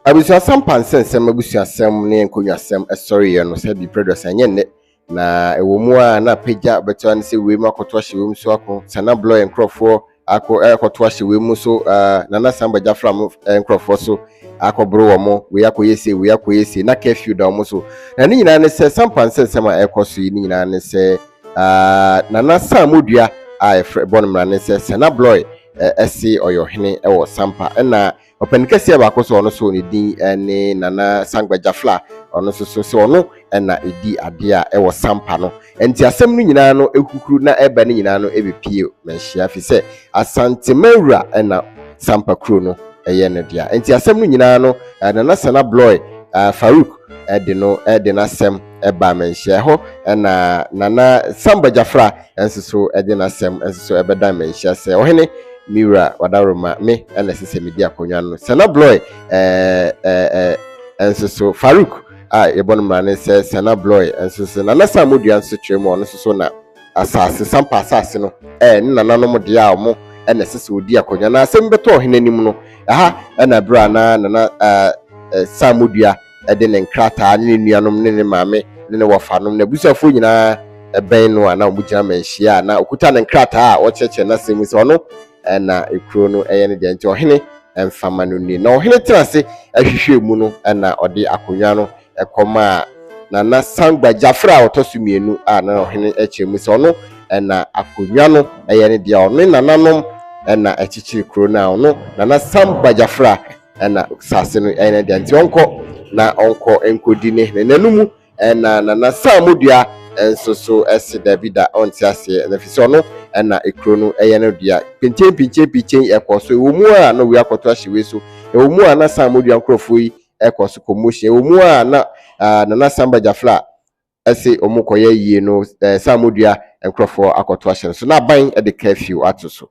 Abusuasɛm pansɛnsɛm abusuasɛm ne nkonnwasɛm sɔreeɛ no sɛ bi prɛdɔs ɛnyɛ nnɛ na ɛwɔ mu a na pagya bɛtoa no sɛ wei mu akɔto ahyɛ wei mu so ako sana blɔɛ nkurɔfoɔ akɔ ɛkɔto ahyɛ wei mu so nana samba gyafra mo nkurɔfoɔ so akɔboro wɔ mo wei akɔyɛ sei wei akɔyɛ sei na curfew da wɔn so na ne nyinaa ne sɛ sam pansɛnsɛm a ɛkɔ so yi ne nyinaa ne sɛ nana sam odua a ɛfrɛ bɔ no mmara ne sɛ sana blɔɛ ɛse ɔyɛ ɔhene wɔ sampa ɛna ɔpɛni kɛseɛ baako so ɔno so ne din ne nana sangbagya fla ɔno nso so sɛ ɔno ɛna ɛdi adeɛ a ɛwɔ sampa no nti asɛm no nyinaa no ɛhukuru na ɛba no nyinaa no ɛbɛpie manhyia fi sɛ asante mawura ɛna sampa kuro no ɛyɛ no dea nti asɛm no nyinaa no nana sana blɔe farouk ɛde no ɛde no asɛm ɛba me nhyɛ. Ɛhɔ na Nana Samba Gyafra nso so de n'asɛm nso so ɛbɛdan me nhyɛ sɛ ɔhene me wura Ɔdawuroma me na ɛsɛ sɛ medi akonnwa no. Sɛna Bloy nso so Farouk a yɛbɔ no mmara ne sɛ Sɛna Bloy nso so Nana Sam Modua nso kyerɛ mu a ɔno nso so na asase sampa asase no ɛɛ ne nananom deɛ a wɔn ɛna ɛsɛ sɛ wɔdi akonnwa na asɛm bɛtɔ ɔhene anim no ɛha ɛna berɛ a na Nana ɛɛ Sam Modua de ne nkrataa ne ne nuanom ne ne maame ne ne wɔfanom ne abusuafoɔ nyinaa bɛn no a na wɔgyina manhyia a na ɔkuta ne nkrataa a wɔkyerɛkyerɛ n'asɛm mu sɛ ɔno na kuro no yɛ ne deɛ nti ɔhene mfa ma no nni. Na ɔhene tena ase hwehwɛɛ mu no na ɔde akonnwa no kɔmaa Nana Sangba Gyafra a ɔtɔ so mmienu a na ɔhene kyerɛ mu sɛ ɔno na akonnwa no yɛ ne deɛ ɔne nananom na ɛkyekyere kuro no a ɔno Nana Sangba Gyafra na saase no yɛ ne dea, nti ɔnkɔ na ɔnkɔ nkɔdi ne hene nanu mu. Ɛna Nana Saamodua nso so se Daabida, ɔnte aseɛ, na fisɛ ɔno na kuro no yɛ no dea. Pinkyen pinkyen pinkyen ɛkɔɔ so, ɛwɔ mu a na wei akɔto ahye wei so, ɛwɔ mu a na Saamodua nkorɔfoɔ yi kɔ so commotion, ɛwɔ mu a na Nana Samba Jafla se wɔkɔyɛ yie no eh, saa modua nkurɔfoɔ akɔto ahyɛ no so na aban de curfew ato so.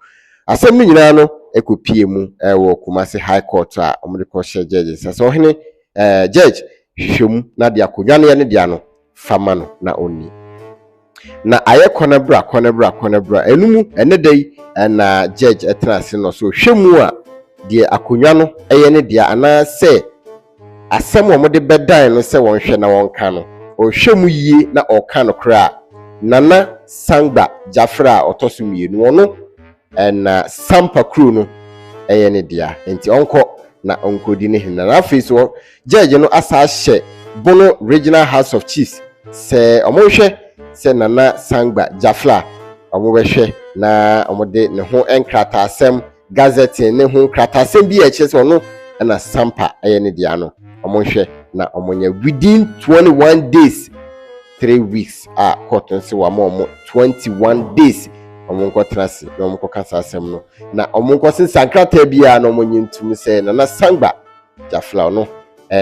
Asɛm no nyinaa no kɔpie mu eh, wɔ Kumasi High Court a wɔde kɔhyɛ judge nsa sɛ ɔhene eh, judge hwehwɛ mu na de akonnwa no yɛ ne dea no fa ma no na ɔnni. Na ayɛ kɔnɛbra kɔnɛbra kɔnɛbra ɛno mu ɛnɛ da yi eh, na judge tena ase no so hwɛ mu a deɛ akonnwa no yɛ ne dea anaasɛ asɛm a wɔde bɛdan no sɛ wɔnhwɛ na wɔnka no, ɔhwɛ mu yie na ɔka nokorɛ a, Nana Sangba Gyafra a ɔtɔ so mmienu, ɔno na Sampa kuro no yɛ ne dea, nti ɔnkɔ na ɔnkɔdi ne hene. Na afei so, gyɛɛgye no asa ahyɛ Bono Regional House of Chiefs sɛ wɔnhwɛ sɛ Nana Sangba Gyafra a wɔbɛhwɛ na wɔde ne ho nkrataasɛm Gazetteer no ho nkratasɛm bi a ɛkyerɛ sɛ ɔno na Sampa yɛ ne dea no, wɔnhwɛ na wɔnyɛ within 21 days, three weeks a court no sɛ wɔama wɔn 21 days wɔn nkɔtena ase na wɔn nkɔka saa asɛm no na wɔn nkɔsesa nkrataa biara na wɔnyɛ ntum sɛ Nana Sangba gyaflaw no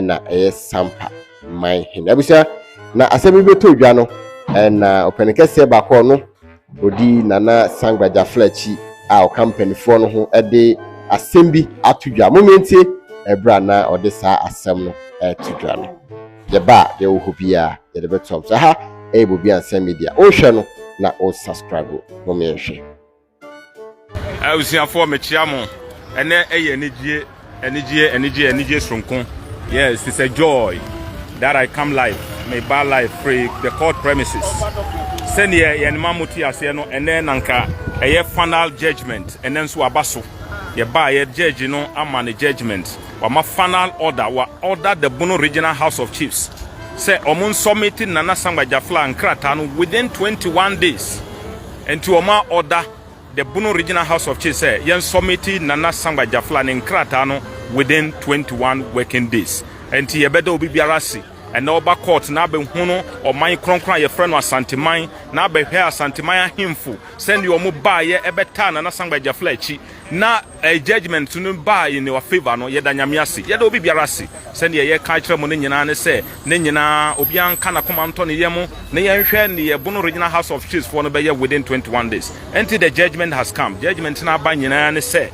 na ɛyɛ sampa man hene abusua na asɛm bi bɛtɔ dwa no na ɔpɛne kɛseɛ baako ɔno ɔdi nana sangba gyafla akyi a ɔka mpanimfoɔ no ho de asɛm bi ato dwa mo mmientie ɛberɛ a na ɔde saa asɛm no ɛto dwa no yɛba a deɛ wɔ hɔ biara yɛde bɛtoam so ha ɛyɛ bobi ansa media wohwɛ no na wo subscribe mo mmienhwɛ Abusuafoɔ mekyea mo. Ɛnɛ ɛyɛ anigyeɛ, anigyeɛ, anigyeɛ, anigyeɛ soronko. Yes, it's a joy that I come live. Me ba live free the court premises. Sɛdeɛ yɛn ma mo te aseɛ no, ɛnɛ nanka ɛyɛ final judgment. Ɛnɛ nso aba so. Yɛba yɛ judge no ama ne judgment. Wama final order. Wa order the Bono Regional House of Chiefs. Sɛ ɔmo nsɔmiti Nana Sangba Jafla nkrataa no within 21 days. Ɛnti wɔma ɔda The Bono Regional House of Chiefs sɛ yɛn sɔmiti Nana Sangba Jafla ne nkrataa no within twenty one working days. Ɛnti yɛbɛda obi biara ase ɛnɛ ɔba court na abɛhunu ɔman krɔnkrɔn a yɛfrɛ no Asanteman na abɛhwɛ Asanteman ahemfo sɛdeɛ wɔn baeɛ ɛbɛtaa Nana Sangba Jafla akyi na Ɛɛ judgement no baa in our favour no, yɛda Nyame ase. Yɛda obi biara ase. Sɛdeɛ yɛka kyerɛ mo no nyinaa ne sɛ, ne nyinaa, obiara nka n'akoma ntɔ ne yam na yɛnhwɛ deɛ Bono Regional House of Chiefs foɔ no bɛyɛ within twenty one days. Ɛnti the judgement has come. Judgement no aba nyinaa ne sɛ,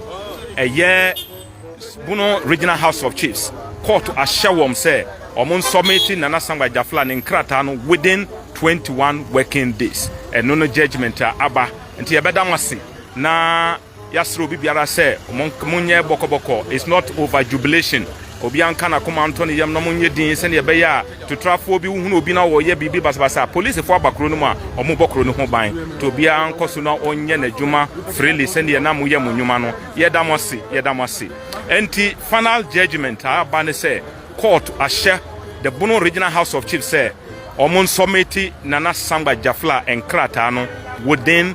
ɛyɛ Bono Regional House of Chiefs kɔɔto ahyɛ wɔn sɛ wɔn nsɔmiti Nana Sankpa Agyafla ne nkrataa no within twenty one working days. Ɛno ne judgement a aba. Nti yɛbɛda mo ase na. Yasrɛ obi biara sɛ monyɛ bɔkɔbɔkɔ it's not over jubilation obiara nka nakoma nto ne yam na monyɛ din sɛdeɛ ɛbɛyɛ a tutrafoɔ bi wohunu obi na ɔyɛ biribi basabasa polisifo aba kuro no mu a ɔmo bɔ kuro no ho ban nti obiara nkɔ so na ɔnyɛ n'adwuma freely sɛdeɛ na moyɛ mo nnwuma no yɛda mo ase yɛda mo ase nti final judgment a aba ne sɛ court ahyɛ the Bono Regional House of Chiefs sɛ ɔmo nsɔmiti Nana Sangba Jafla nkrataa no within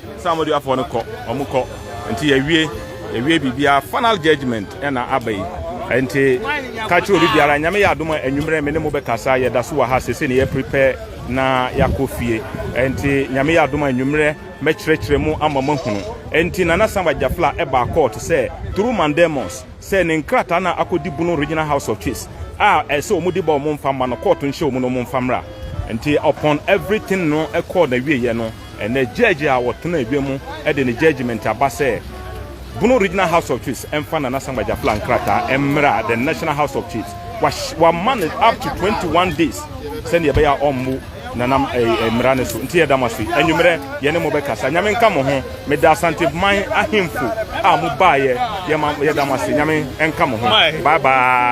Saa wɔn de afɔ no kɔ wɔn kɔ nti yɛ wie yɛ wie bibia final judgement ɛna aba yi nti ka kyerɛ obi biara nyame yɛ adoma anwummerɛ me ne mo bɛkasa yɛ da so wɔ ha sese ne yɛ prepare na yakɔ fie nti nyame yɛ adoma anwummerɛ mɛkyerɛkyerɛ mu ama mo ahunu nti nana samba jafla ɛbaa court sɛ through mandemos sɛ ne nkrataa na akɔ di bunu regional house of chiefs a ɛsɛ wɔn di ba wɔn mfa ma no court nhyɛ wɔn na wɔn mfa mmra nti upon everything no ɛkɔɔ na wie yɛ no Ɛnnɛ, gyɛɛgye a ɔtena adwa mu de ne gyɛɛgyemɛnte aba sɛ Bono Regional House of Chiefs mfa Nana Sankpa Gyafla nkrataa mmra the National House of Chiefs. Wama no up to twenty one days sɛdeɛ ɛbɛyɛ a ɔmmu Nana mmara no so. Nti yɛda mo ase. Anwummerɛ yɛne mo bɛkasa. Nyame nka mo ho. Meda Asanteman ahemfo a mobaeɛ. Yɛma yɛda mo ase. Nyame nka mo ho. Bye bye.